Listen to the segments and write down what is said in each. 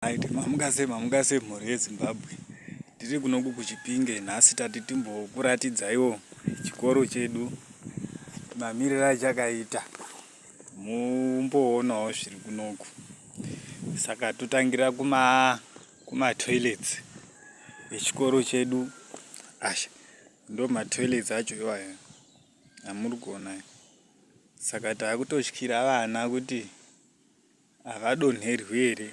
Right, mamuka sei mamuka sei mhuri yezimbabwe tiri kunoku kuchipinge nhasi tati timbokuratidzaiwo chikoro chedu mamiriro achakaita mumboonawo zviri kunoku saka totangira kuma kumatoilets echikoro chedu asha ndo matoilets acho iwayo amuri kuona saka taakutotyira vana kuti Havadonherwi here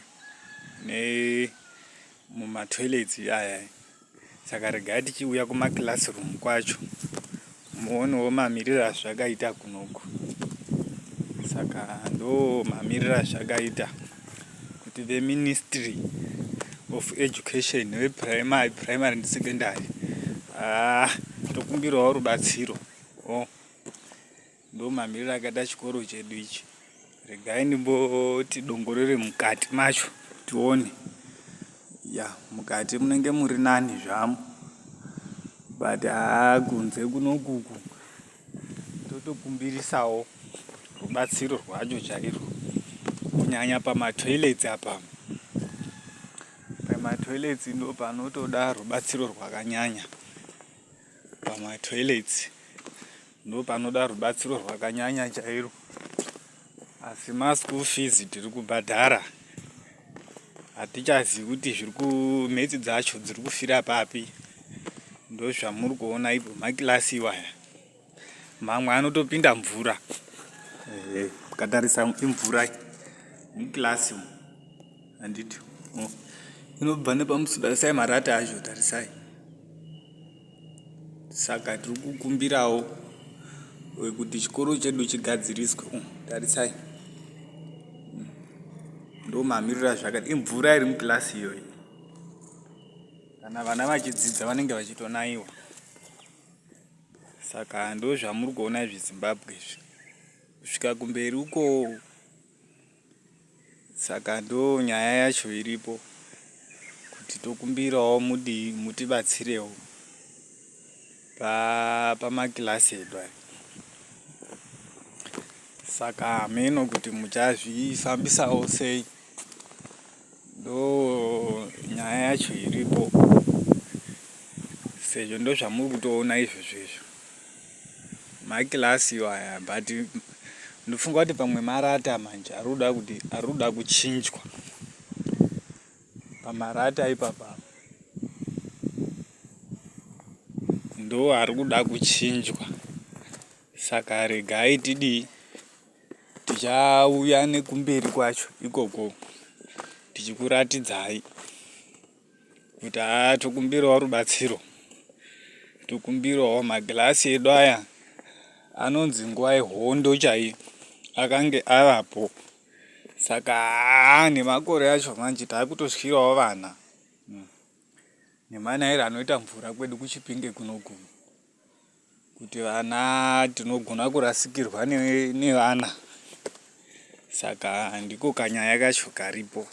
ne muma toilets aya saka regai tichiuya kuma classroom kwacho muonewo mamiriro azvakaita kunoku saka ndo mamiriro azvakaita kuti ve ministry of education ve primary primary and secondary ah tokumbirawo rubatsiro oh. Ndomamiriro akaita chikoro chedu ichi. Regai ndimboti dongorere mukati macho tione. Ya, mukati munenge muri nani zvamo. But haa kunze kunokuku totokumbirisawo rubatsiro rwacho chairwo. Kunyanya pamatoilets apa. Pamatoilets ndo panotoda rubatsiro rwakanyanya. Pamatoilets. ndopanoda rubatsiro rwakanyanya chairo asi maschool fees tiri kubhadhara hatichazivi kuti zviri kumetsi dzacho dziri kufira papi ndozvamuri kuona ipo makilasi iwaya mamwe anotopinda mvura eh, ukatarisa hey, imvura mukilasi umu handiti inobva nepamusudasai marata acho tarisai Saka tiri kukumbirawo kuti chikoro chedu chigadziriswe umu tarisai hmm. ndomamiriro azvakati imvura iri mukilasi iyoyi kana vana vachidzidza vanenge vachitonaiwa saka ndozvamuri kuona izvi zimbabwe izvi kusvika kumberi ukoo Saka ndo nyaya yacho iripo kuti tokumbirawo mudii mutibatsirewo pamakilasi edu aya. Saka hameno kuti muchazvifambisawo sei, ndo nyaya yacho iripo sezvo ndozvamuri kutoona izvozvo izvo. Maglass iwaya but ndofunga kuti pamwe marata manje arikuda kuti arikuda kuchinjwa pamarata ipapa ndo arikuda kuchinjwa saka regai tidii tichauya nekumberi kwacho ikoko tichikuratidzai kuti haa tokumbirawo rubatsiro tokumbirawo magirasi edu aya anonzi nguva yehondo chaiye akange avapo saka haa nemakore acho manje taakutotyirawo vana hmm. nemanairo anoita mvura kwedu kuchipinge kunoguma kuti vana tinogona kurasikirwa nevana saka ndiko kanyaya kacho karipo